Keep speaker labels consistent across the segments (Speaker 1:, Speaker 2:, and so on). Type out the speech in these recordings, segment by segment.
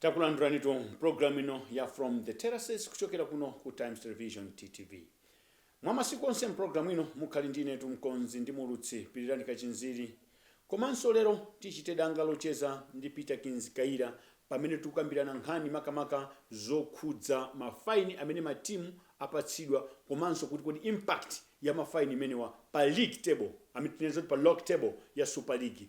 Speaker 1: Takulandulanitu m'programu ino ya From the Terraces kuchokera kuno ku Times Television, TTV. Mwa masiku onse m'programu ino mukhali ndi inetu mkonzi ndi muulutsi Pilirani Kachinziri. Komanso lero tichite danga locheza ndi Peterkins Kayira pamene tukambirana nkhani makamaka zokhudza ma fine amene matimu apatsidwa komanso kuti kodi impact ya ma fine imenewa pa league table, I mean tinene zoti pa log table ya Super League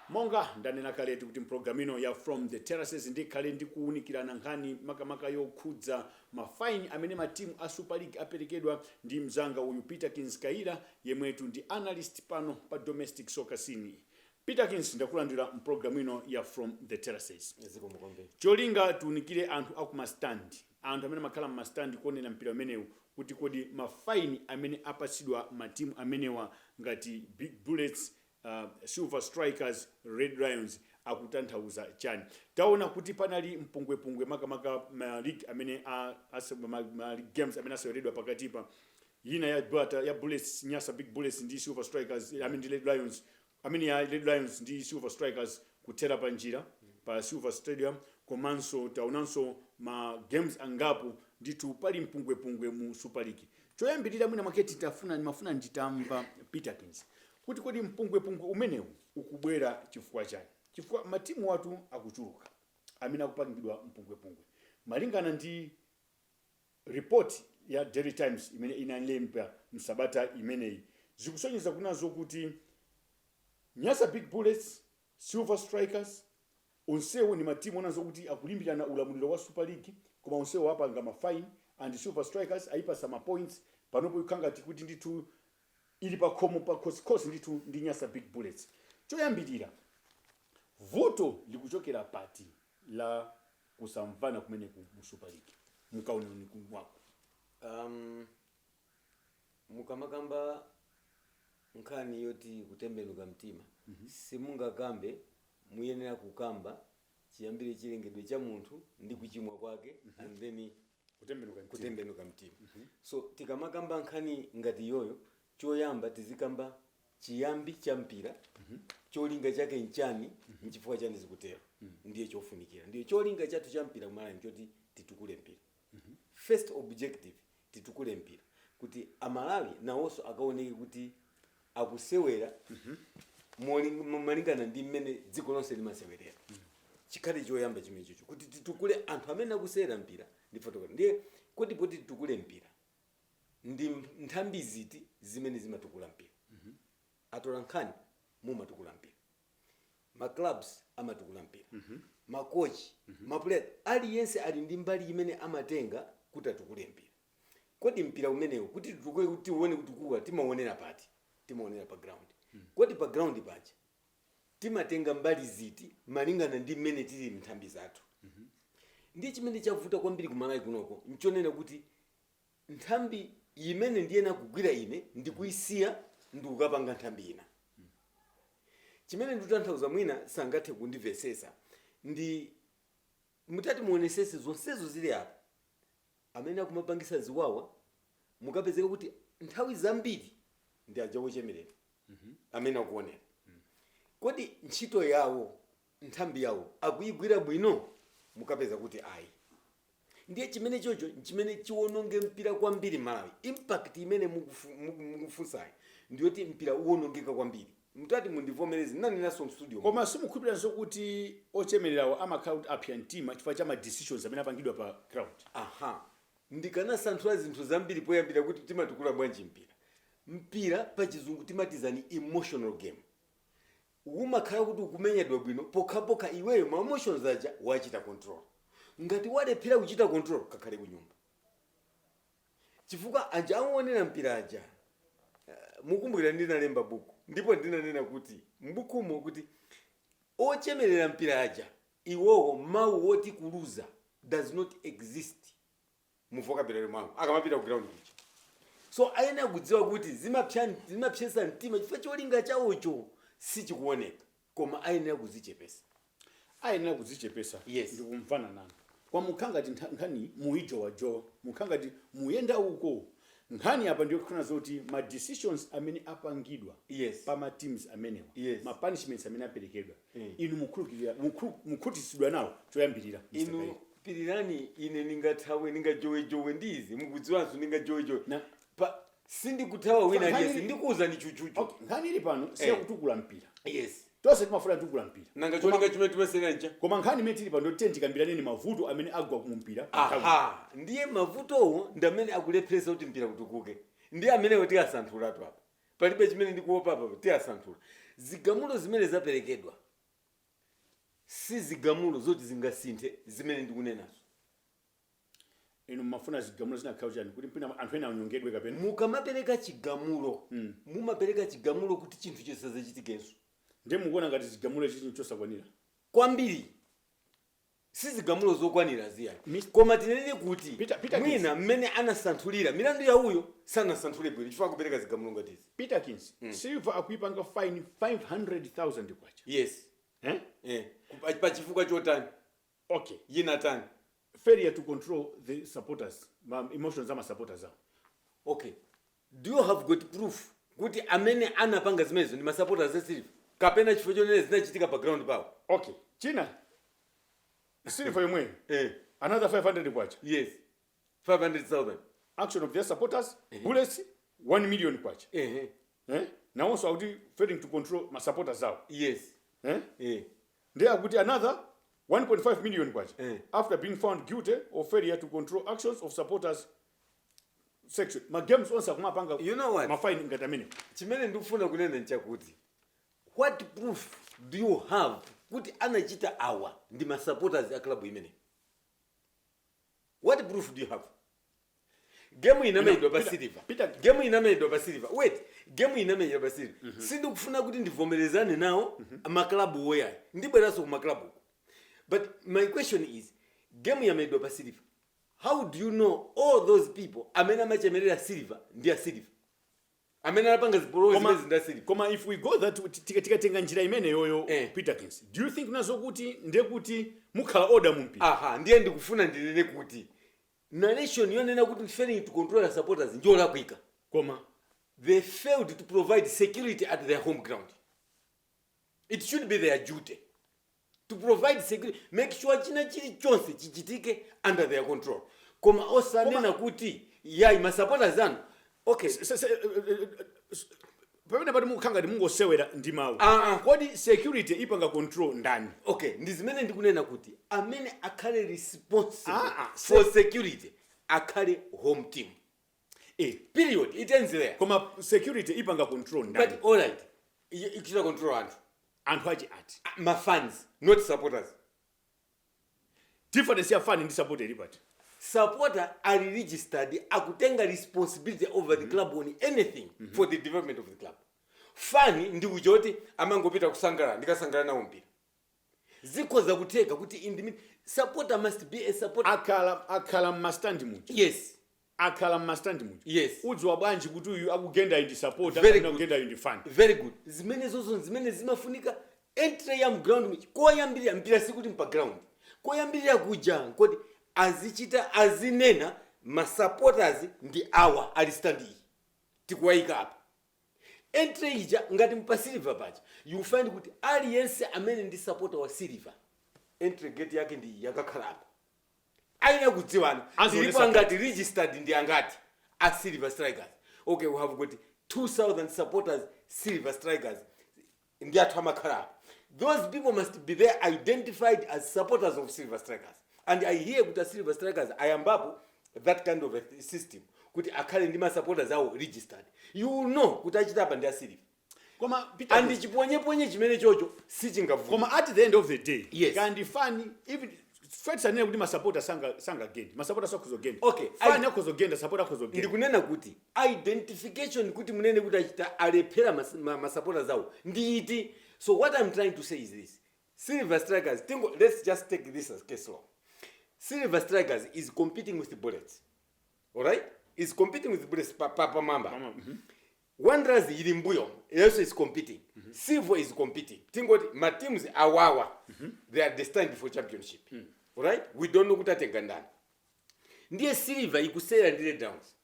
Speaker 1: Monga ndanena kaletu kuti mprogram ino ya From the Terraces ndikhale ndikuunikirana nkhani makamaka yokhudza ma fine amene matimu a Super League aperekedwa ndi mzanga uyu Peterkins Kayira yemwetu ndi analyst pano pa domestic soccer scene. Peterkins ndakulandira mprogram ino ya From the Terraces. Zikomo kwambiri. Cholinga tiunikire anthu aku ma stand, anthu amene amakhala mma stand kuonera mpira umenewu kuti kodi ma fine amene apatsidwa matimu amenewa ngati Big Bullets a silver strikers, red lions akutanthauza chani? Taona kuti panali mpungwepungwe makamaka ma league amene a ase ma, ma league games amene aseweredwa pakatipa yina ya bata ya bullets nyasa big bullets ndi silver strikers i mean ndi red lions i mean ya red lions ndi silver strikers kuthera pa njira pa silver stadium komanso taonanso ma games angapo nditu pali mpungwepungwe mu super league choyambirira mwina mwake titafuna ndimafuna nditamva peterkins kuti kodi mpungwepungwe umenewu ukubwera chifukwa chani chifukwa matimuwatu akuchuluka amene akupangidwa mpungwepungwe malingana ndi report ya daily times imene inalemba msabata imeneyi zikusonyeza kunena zokuti nyasa big bullets, silver strikers onsewo ndi matimu onena zokuti akulimbirana ulamuliro wa super league koma onsewo apanga ma fine and silver strikers ayipasa ma points panopo ikukhala ngati kuti ndithu ili pakhomo pakhosikhosi ndithu ndi Nyasa Big Bullets. Choyambilira vuto likuchokera pati la kusamvana kumeneku mu Super League mkuona kwako? Am,
Speaker 2: mukamakamba nkhani yoti kutembenuka mtima simungakambe muyenera kukamba chiyambire chilengedwe cha munthu ndi kuchimwa kwake and then kutembenuka mtima. kutembenuka mtima so tikamakamba nkhani ngati iyoyo choyamba tizikamba chiyambi cha mpira cholinga chake nchani nchifukwa chani zikutero ndiye chofunikira ndiye cholinga chathu cha mpira kumalawi nchoti titukule mpira first objective titukule mpira kuti amalawi nawonso akaoneke kuti akusewera moling- mo- malingana ndi mmene dziko lonse limasewerera chikhale choyamba chimenecho kuti titukule anthu amene akusewera mpira ndi kufotokoza ndiye kodi poti titukule mpira ndi m- nthambi ziti zimene zimatukula mpira atola nkhani mumatukula mpira ma clubs amatukula mpira makochi mapuleya aliyense ali ndi mbali imene amatenga kuti atukule mpira Kodi mpira umenewu kuti titukule kuti tiuone kuti ukutukuka timauonera pati? Timauonera pa ground. Kodi pa ground paja timatenga mbali ziti malingana ndi mmene tilili m'nthambi zathu? Ndiye chimene chavuta kwambiri ku Malawi kunoko n'chonena kuti nthambi imene ndiyenera kugwira ine ndikuisiya ndikukapanga nthambi ina. Chimene ndikutanthauza mwina sangathe kundimvetsetsa ndi mutati muonesetse zonsezo zili apa amene akumapangisa ziwawa mukapeza kuti nthawi zambiri ndi aja ochemerera amene akuonera kodi ntchito yawo nthambi yawo akuyigwira bwino mukapeza kuti ayi ndiye chimene chocho nchimene chiwononge mpira kwambiri malawi impact imene mukufu- muku- mukufunsayi ndiyoti mpira uwonongeka kwambiri Mutati mundivomereze ndinanenanso m'studio. Koma
Speaker 1: simukhulupilira kuti ochemelerawo amakhala kuti apsya mtima chifukwa cha ma decisions amene apangidwa pa ground? Aha.
Speaker 2: Ndikanasanthula zinthu zambiri poyambira kuti timatukula bwanji mpira. Mpira pachizungu timati is an emotional game. Umakhala kuti ukumenyedwa bwino pokhapokha iweyo ma emotions aja wachita control. Ngati walephera kuchita control kakhale kunyumba. Chifukwa aja owonera mpira aja, mukukumbukira ndinalemba buku ndipo ndinanena kuti m'bukumo kuti ochemerera mpira aja iwowo mawu woti kuluza does not exist mu vocabulary mwawo akamapita ku ground kuja. So ayenera kudziwa kuti zimapsa, zimapsetsa mtima chifukwa cholinga chawocho sichikuoneka. Koma ayenera kudzichepetsa.
Speaker 1: Ayenera kudzichepetsa. Yes.
Speaker 2: Ndikumvana
Speaker 1: nanu. Koma mukhala ngati ntha- nkhaniyi muyijowajowa. Mukhala ngati muyenda uko. Nkhani apa ndiyokufuna zoti ma decisions amene apangidwa Yes. pa ma
Speaker 2: teams
Speaker 1: amenewa. Yes. Ma
Speaker 2: punishments
Speaker 1: amene aperekedwa. Eh. Inu mukhulu- mukhutitsidwa nawo choyambirira. inu
Speaker 2: pilirani ine ndingathawe ndingajowejowe ndi izi mukudziwanso ndingajowejowe Na- pa sindikuthawa wina Nkhani- aliyense ndikuwuzani chuchuchu Okay, nkhani ili pano
Speaker 1: si Eh. yakutukula mpira yes
Speaker 2: tonse timafuna
Speaker 1: kutukula mpira nanga Koma- cholinga chimene
Speaker 2: timasewera ncha koma nkhani imene tili pano
Speaker 1: ndi yoti tikambirane mavuto amene agwa ku mpira aha ndiye
Speaker 2: mavutowo ndi amene akulepheresa kuti mpira utukuke ndiye amenewo tiyasanthulatu apa palibe chimene ndikuopa apa tiyasanthula zigamulo zimene zaperekedwa si zigamulo zoti zingasinthe zimene ndikunenazo
Speaker 1: inu mumafuna zigamulo zinakakhala chani kuti mwina anthu ena anyongedwe kapena mukamapereka
Speaker 2: chigamulo Mm. mumapereka chigamulo kuti chinthu chisadzachitikenso ndiye mukuona
Speaker 1: ngati zigamulo ichi chinthu chosakwanira kwambiri
Speaker 2: sizigamulo zokwanira zi ayi Mis- koma tinene kuti Peter- Peter mwina mmene anasanthulira milandu ya uyo sanasanthule bwino chifukwa kupereka zigamulo ngati izi
Speaker 1: peterkins silver akuipanga fine 500000 kwacha yes eh?
Speaker 2: eh, pa- pa chifukwa chotani
Speaker 1: Ok ina
Speaker 2: yotani? Failure to
Speaker 1: control the supporters ma emotions ama supporters awo.
Speaker 2: Ok do you have got proof kuti amene anapanga zimenezo ndi ma supporters a Silver kapena chifukwa chonena zinachitika pa ground pawo? Ok china
Speaker 1: Silver yomweyo Eh another K500 yes
Speaker 2: K500,000. action of
Speaker 1: their supporters Bullets K1 million Ehe eh nawonso akuti failing to control ma supporters awo yes eh
Speaker 2: eh.
Speaker 1: Nde akuti another K1.5 million after being found guilty of failure to control actions of supporters section ma games onse akumapanga You know what? ma fine ngati
Speaker 2: amenewo.
Speaker 1: chimene ndikufuna
Speaker 2: kunena nchakuti what proof do you have kuti anachita awa ndi ma supporters a club imeneyi what proof do you have gemu You know, inamenyedwa pa Peter- Silver Peter- gemu inamenyedwa pa Silver wait gemu inamenyedwa pa Silver sindikufuna kuti ndivomerezane nawo maklabuwo ayi ndibweranso ku maklabu but my question is gemu yamenyedwa pa Silver how do you know all those people amene amachemerera Silver ndi a Silver amene anapanga zipolowe Koma- zimenezi nda Silver koma if we go
Speaker 1: that tika- tikatenga njira imeneyoyo Eh. peterkins do you think nazo kuti ndiye kuti mukhala order mu mpira aha ndiye ndikufuna
Speaker 2: ndinene kuti narration yonena kuti failing to control ma supporters njolakwika
Speaker 1: koma
Speaker 2: they failed to provide security at their home ground it should be their duty to provide security make sure china chili chonse chichitike under their control koma osanena kuti yayi ma supporters anu okay Se- se- se- eh, eh, eh, s-
Speaker 1: pamenepatu mukukhala ngati mungosewera ndi mawu Ah, ah. kodi security ipanga control ndani okay ndi
Speaker 2: zimene ndikunena kuti amene akhale responsible Ah, ah, for security akhale home team eh period it ends there koma
Speaker 1: security ipanga control ndani but all
Speaker 2: right I- ichita control anthu anthu ake
Speaker 1: ati Ah, ma fans
Speaker 2: not supporters
Speaker 1: difference ya fan ndi supporter ili pati
Speaker 2: supporter are registered akutenga responsibility over the club on anything for the development of the club fan ndi uja woti amangopita kukasangalala ndikasangalala nawo mpira zikhoza kutheka kuti in the mid supporter must be a supporter akhala
Speaker 1: akhala mmastand muja
Speaker 2: yes akhala mmastand
Speaker 1: muja udziwa bwanji
Speaker 2: kuti uyu
Speaker 1: akugenda ndi supporter kapena akugenda ndi fan
Speaker 2: very
Speaker 1: good zimenezozo
Speaker 2: zimene zimafunika entry ya mu ground muja koyambirira mpira sikuti mpa ground koyambirira kuja kodi azichita azinena masupporters ndi awa ali stand iyi tikuwayika apa entry ija ngati mpa silver paja you will find kuti aliyense amene ndi supporter wa silver entry gate yake ndi iyi akakhala apa ayenera kudziwana tilipo angati registered ndi angati a silver strikers okay we have got 2000 supporters silver strikers ndi athu amakhala apa those people must be there identified as supporters of silver strikers and i hear kuti a silver strikers ayambapo that kind of a system kuti akhale ndi masupporters awo registered you will know kuti achita apa ndi a silver koma
Speaker 1: and
Speaker 2: chiponyeponye chimene chocho sichingavuta koma at the end of
Speaker 1: the day Yes. kandi fani even Fred sindinene kuti masapota sanga sangagende masapota akhoza genda Okay, fani akhoza
Speaker 2: genda sapota
Speaker 1: akhoza genda ndikunena kuti
Speaker 2: identification kuti munene kuti achita alephera mas- ma- ma supporters awo ndi iti so what i'm trying to say is this silver strikers tingo let's just take this as case law silver strikers is competing with the bullets alright is competing with the bullets pa, pa, pa mamba Mama, mhm.
Speaker 1: wanderers
Speaker 2: ili mbuyo also is competing silver is competing tingoti ma teams awawa they are destined for championship alright we don't know kuti atenga ndani ndiye silver ikusera ndi red downs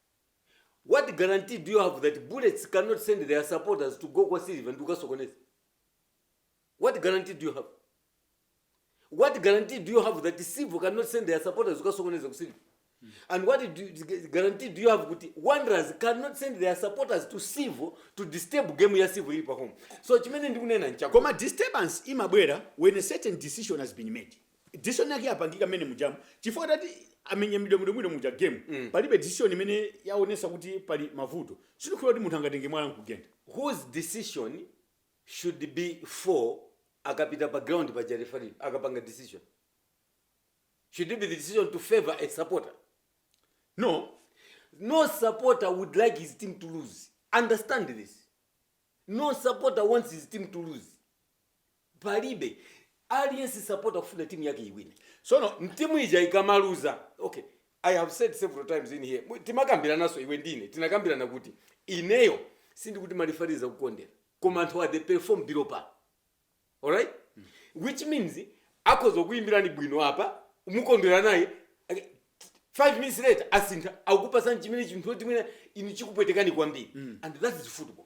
Speaker 2: what guarantee do you have that bullets cannot send their supporters to go kwa silver ndi kukasokoneza what guarantee do you have what guarantee do you have that silver cannot send their supporters kukasokoneza ku silver and what do you, guarantee do you have kuti wanderers cannot send their supporters to silver to disturb game ya silver ili pa home so chimene ndikunena nchako koma disturbance
Speaker 1: imabwera when a certain decision has been made decision yake yapangika mmene mujamu chifukwa atati amenye mwidomwidomwido muja game palibe decision imene yaonesa kuti pali mavuto sindikhulupira kuti munthu angatenge mwala nkugenda whose decision
Speaker 2: should be for akapita pa ground paja referee akapanga decision should it be the decision to favor a supporter
Speaker 1: no
Speaker 2: no supporter would like his team to lose understand this no supporter wants his team to lose palibe aliyense sapota kufuna timu yake iwine. Tsono
Speaker 1: timu ija
Speaker 2: ikamaluza ok i have said several times in here timakambirananso iwe ndine tinakambirana kuti ineyo sindikuti ma referee sakukondera koma anthu awa they perform below par alright which means akhoza kukuyimbirani bwino apa mukondwera naye five minutes later asintha akupasani chimene chinthu chimene inu chikupwetekani kwambiri and that is football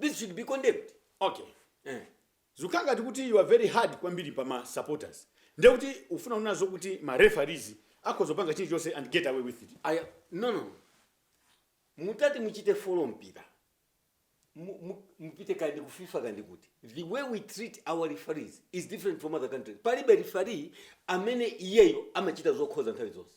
Speaker 2: this should be condemned okay
Speaker 1: zikukhala ngati kuti you are very hard kwambiri pa ma supporters ndiye kuti ufuna unene zoti kuti ma referees akhoza kupanga chilichonse and get away with it no no
Speaker 2: no mutati muchite follow mpira mupite kandi ku fifa kandi kuti the way we treat our referees is different from other countries palibe referee amene iyeyo amachita zokhoza nthawi zonse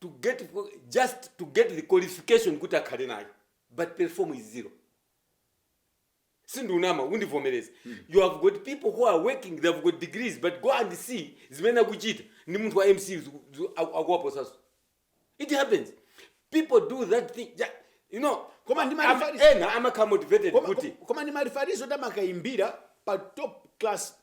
Speaker 2: to get just to get the qualification kuti akhale nayo but perform is zero sindunama undivomereze you have got people who are working they have got degrees but go and see zimene akuchita ndi munthu wa msce akuwaposanso it happens people do that thing you know amakhala motivated kuti koma ndi ma
Speaker 1: referees oti amakaimbira pa top class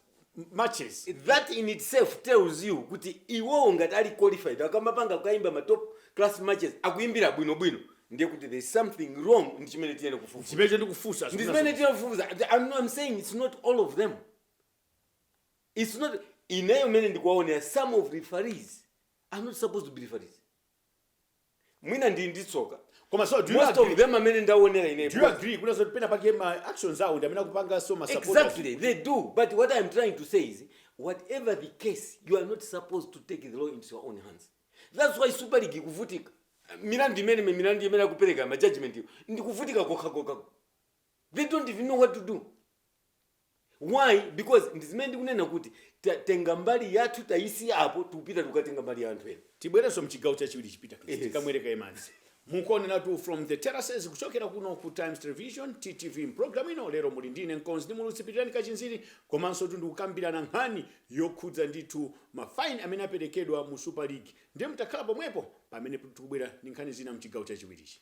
Speaker 1: matches that in
Speaker 2: itself tells you kuti iwowo ngati ali qualified akamapanga akukaimba ma top class matches akuimbira bwinobwino ndiye kuti there is something wrong ndi chimene tiyenera kufufuza chimenecho ndikufunsa
Speaker 1: ndi zimene zimene tiyenera
Speaker 2: kufufuza I'm, not- I'm saying it's not all of them it's not ineyo mene ndikuwaonera some of referees are not supposed to be referees mwina ndili ndi tsoka koma so do you most of
Speaker 1: agree them amene ndaonera
Speaker 2: ineyo do you agree kuna zoti pena
Speaker 1: pake ma actions awo ndi amene akupangitsa so ma supporters Exactly, they do.
Speaker 2: But what I'm trying to say is, whatever the case, you are not supposed to take the law into your own hands. That's why Super League ikuvutika. Milandu imene milandu imene akupereka ma judgment iwo, ndikuvutika kokha kokha. they don't even know what to do why because ndizimene ndikunena kuti tatenga mbali yathu tayisiya apo tikupita tikukatenga mbali ya anthu ena tibwerenso mchigawo chachiwiri
Speaker 1: Peter Yes. tikamwere kaye madzi mukuonera tu from the terraces kuchokera kuno ku times television ttv mpulogalamu ino lero muli ndi ine mkonzi ndi muulutsi pilirani kachinziri komanso tu ndikukambirana nkhani yokhudza ndithu mafaini amene aperekedwa mu super league ndiye mungokhala pomwepo pamene tikubwera ndi nkhani zina mchigawo chachiwirichi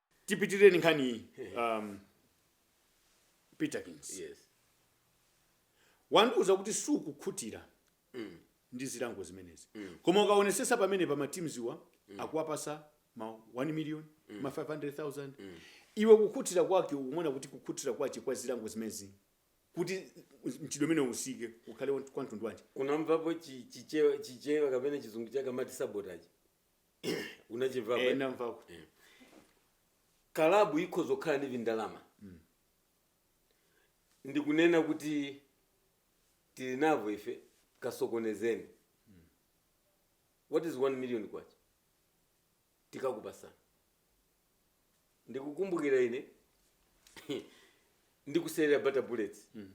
Speaker 1: tipitirire ndi nkhani iyi um, peterkins
Speaker 2: yes
Speaker 1: wandiuza kuti sukukhutira ndi zilango zimenezi koma ukaonesesa pamene pa matimuziwa akuwapasa ma 1 million ma 500000 iwe kukhutira kwake ukuona kuti kukhutira kwache kwa zilango zimenezi kuti mchitidwe umenewu usike zikhale kwa mtundu wanji unamvapo chi-
Speaker 2: chichewa chichewa kapena chizungu chake amati sabotage unachimvapo eh, eh?
Speaker 1: namvako eh.
Speaker 2: kalabu ikhoza kukhala ndi vindalama mm. ndikunena kuti tili navo ife kasokonezeni mm. what is 1 million kwacha tikakupasana ndikukumbukira ine ndikusewera bata bullets mm.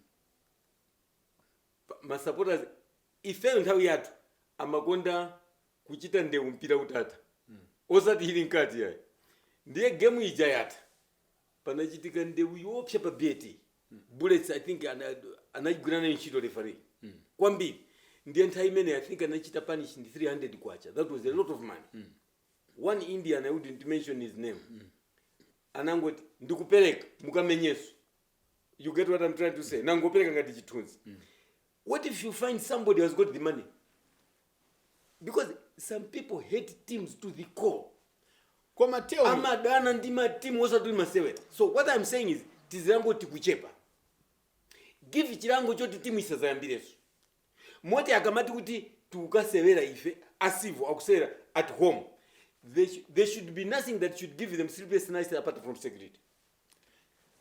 Speaker 2: masupporters ifeyo nthawi yathu amakonda kuchita ndewu mpira utatha osati ili mkati ayi ndiye game ija yatha panachitika ndewu yoopsa pa bat bullets i think ana- anagwira nayo ntchito referee kwambiri ndiye nthawi imeneyo i think anachita punish ndi 300 kwacha that was a lot of money one indian i wouldn't mention his name anangoti ndikupereka mukamenyeso you get what i'm trying to say nangopereka ngati chithunzi what if you find somebody has got the money because some people hate teams to the core
Speaker 1: koma teo amadana ndi matimu
Speaker 2: osati masewera so what i'm saying is tizilango tikuchepa give chilango choti timu isazayambireso moti akamati kuti tikukasewera ife a civo akusewera at home there, sh- there should be nothing that should give them sleepless nights apart from security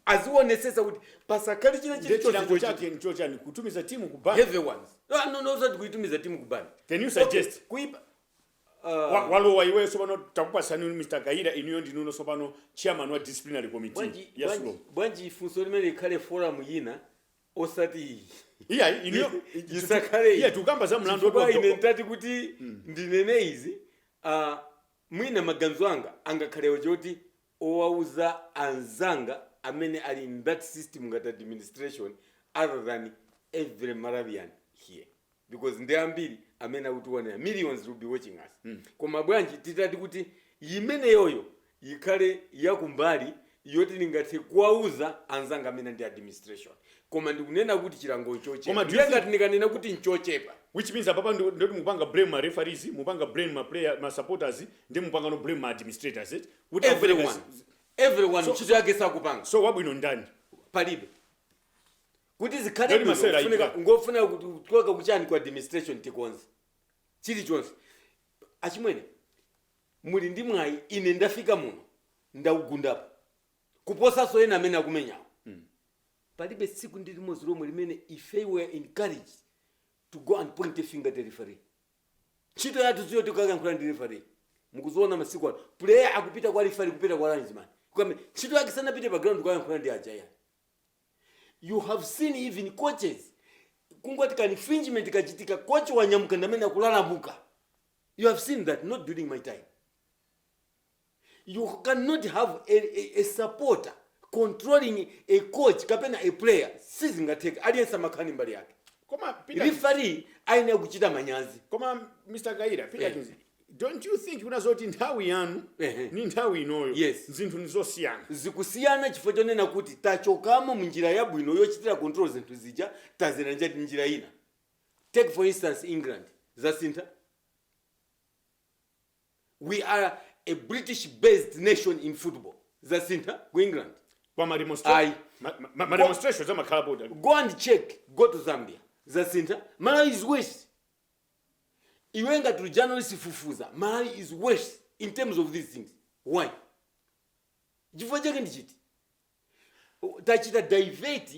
Speaker 2: azionetsetsa kuti pasakhale china Ndiye chilichonse chilango chochitika. chake
Speaker 1: nchochani kutumiza timu kubani heavy ones Ah,
Speaker 2: no no osati kuitumiza timu kubani Can you suggest?
Speaker 1: kuipa
Speaker 2: Wa-
Speaker 1: walowa iweyo tsopano takupatsani mr kaira inuyo ndinuno tsopano chairman wa disciplinary committee bwanji ya bwanji- sulo bwanji ifunso
Speaker 2: limene ikhale forum yina osati iyi
Speaker 1: iya inuyo Isakhale iyi.
Speaker 2: iya tikukamba za mlandu
Speaker 1: Chifukwa woti ine ndati kuti
Speaker 2: ndinene izi ah, mwina maganizo anga angakhalewo choti owauza anzanga amene ali in that system ngati administration other than every Malawian here because ndi ambiri amene akutionera millions will be watching us koma bwanji titati kuti imeneyoyo yikhale ya kumbali yoti ndingathe kuwauza anzanga amene ndi administration koma ndikunena kuti chilango nchochepa Koma do you ndiye think- ngati ndikanena kuti nchochepa which means apapa ndo-
Speaker 1: ndoti mukupanga blame ma referees mukupanga blame ma player ma supporters nde mupangano blame ma administrators eti kuti akupereka zi- everyone zi-
Speaker 2: everyone So- ntchito yake sakupanga so wabwino
Speaker 1: ndani
Speaker 2: palibe kuti zikhale Ndani bwino, masewera kufunika- ayitwa? ndofuna kuti kuchoka kuchani ku administration tikonze chilichonse achimwene muli ndi mwayi ine ndafika muno ndaugundapo kuposanso enawo amene akumenyawo palibe tsiku ndi limodzi lomwe limene if we were encouraged to go and point a finger at the referee ntchito yathu siyoti tikayankhula ndi referee mukuziona masiku ano player akupita kwa referee kupita kwa linesman kukame ntchito yake sanapite pa ground kukayankhula ndi aja ayi you have seen even coaches kungoti ka infringement kachitika coach wanyamuka ndamene akulalamuka you have seen that not during my time You can not have a, a, a supporter controlling a coach kapena a player sizingatheke aliyense amakhala ndi mbali yake koma
Speaker 1: referee
Speaker 2: ayenera kuchita manyazi koma mr
Speaker 1: kaira Peterkins Eh, don't you think kuna zoti nthawi yanu Ehe. ni nthawi inoyo Yes. zinthu
Speaker 2: ni
Speaker 1: zosiyana zikusiyana
Speaker 2: chifukwa chonena kuti tachokamo munjira yabwino yochitira control zinthu zija tadzera njati njira ina take for instance england zasintha We are a British based nation in football. Zasintha ku England. Kwa ma demonstration.
Speaker 1: Ayi. Ma, ma, ma Kwa- demonstrations a ma club. Go and check.
Speaker 2: Go to Zambia. Zasintha. Malawi is worse. Iwe ngati uli journalist fufuza. Malawi is worse in terms of these things. Why? Chifukwa chake ndi chiti? tachita divert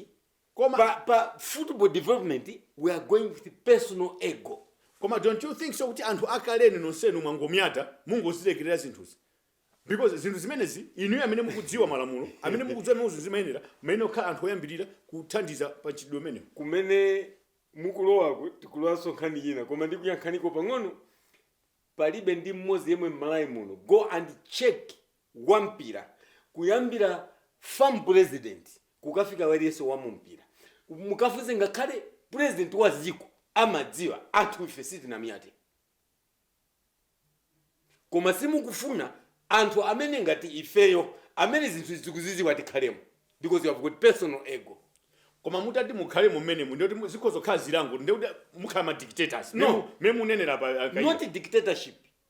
Speaker 2: Koma- pa, pa football development we are going with personal ego koma don't you think
Speaker 1: so kuti anthu akalenu nonsenu mwangomyata mungozilekerera zinthuzi because zinthu zimenezi inuyo amene mukudziwa malamulo amene mukudziwa mmene zinthu zimayenera mmayenera kukhala anthu oyambirira kuthandiza pa mchitidwe umenewu
Speaker 2: kumene mukulowako tikulowanso nkhani yina koma ndikuyankhaniko pang'ono palibe ndi mmodzi yemwe m'Malawi muno go and check wa mpira kuyambira fam president kukafika aliyense wa mu mpira mukafunse ngakhale President wa dziko amadziwa anthu ife sitinamiyate koma simukufuna anthu amene ngati ifeyo amene zinthu zikuziziwa tikhalemo because you have got personal ego koma mutati
Speaker 1: mukhalemo mmenemo ndikuti mu- zikhoza kukhala zilango ndikuti mukhala ma dictators No. Mmene munenera
Speaker 2: pa a
Speaker 1: Kaira. not dictatorship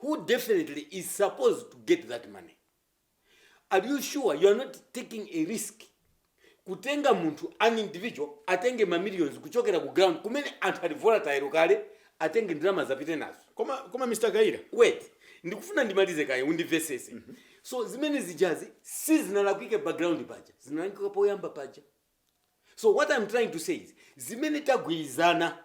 Speaker 2: who definitely is supposed to get that money. Are you sure you are not taking a risk kutenga munthu an individual atenge ma millions kuchokera ku ground kumene anthu ali volatile kale atenge ndalama zapite nazo koma koma mr
Speaker 1: kaira wait
Speaker 2: ndikufuna ndimalize kaye undimvesese mm -hmm. so zimene zijazi si zinalakwike pa ground paja zinalakwika poyamba paja so what i'm trying to say is zimene tagwirizana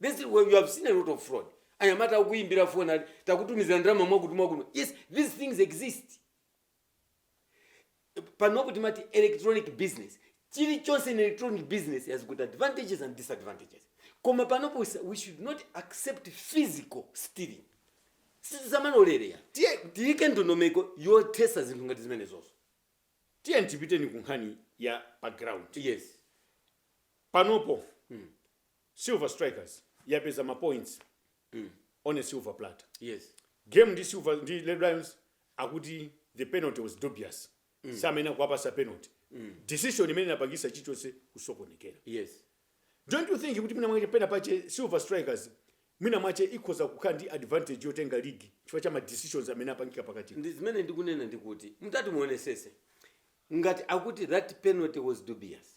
Speaker 2: This is where you have seen a lot of fraud. Anyamata akukuyimbira phone ali takutumizira ndalama mwakuti mwakuno. Yes, these things exist. Panopo timati electronic business. Chilichonse in electronic business has got advantages and disadvantages. Koma panopo we s- we should not accept physical stealing. Sitizimalolera. Tiye tiyike ndondomeko yothesa zinthu ngati zimenezozo. tiye
Speaker 1: tipitenso ku nkhani ya pa ground Yes. panopo Silver strikers yapeza ma points on a silver platter. Yes.
Speaker 2: Game ya
Speaker 1: silver ndi red lions akuti the penalty was dubious. Samayenera kuwapasa penalty. Decision imene inapangisa chichonse kusokonekera. Yes.
Speaker 2: Don't you
Speaker 1: think kuti mwina mwache pena pache silver strikers mwina mwache ikhoza kukhala ndi advantage yotenga league chifukwa cha ma decisions amene apangika pakati. Ndi zimene ndikunena
Speaker 2: ndikuti mutati muonesese ngati akuti that penalty was dubious.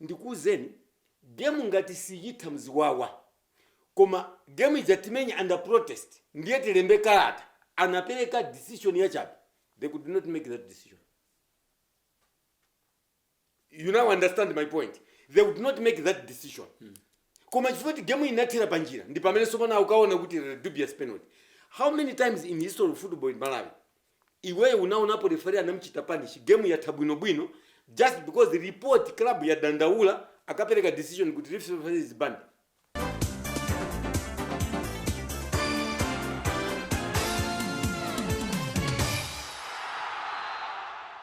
Speaker 2: ndikuuzeni game ngati siitha mziwawa koma game ija timenya under protest ndiye tilembe kalata anapeleka decision yachabe they could not make that decision you now understand my point they would not make that decision koma chifukwa kuti game inathera panjira ndi pamene sopano akukaona kuti there was dubious penalty how many times in history of football in malawi Iweyo unaonapo referee anamchita punish game yatha bwino bwino just because report club yadandaula akapereka decision kuti referee is banned?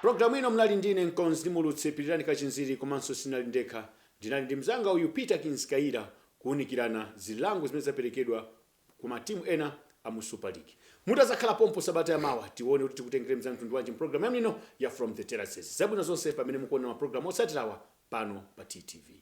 Speaker 1: Programu ino munali ndine mkonzi ndi mulutsi Pilirani Kachinziri komanso sinali ndekha ndinali ndi mzanga uyu Peter Kins Kaira kuunikirana zilango zimene zaperekedwa ku ma team ena a mu super league. Mutazakhala pompo sabata ya mawa tione kuti tikutengereni za mtundu wanji mu program yanu ino ya from the terraces. Zabwino zonse pamene mukuonera ma program otsatirawa pano pa TTV.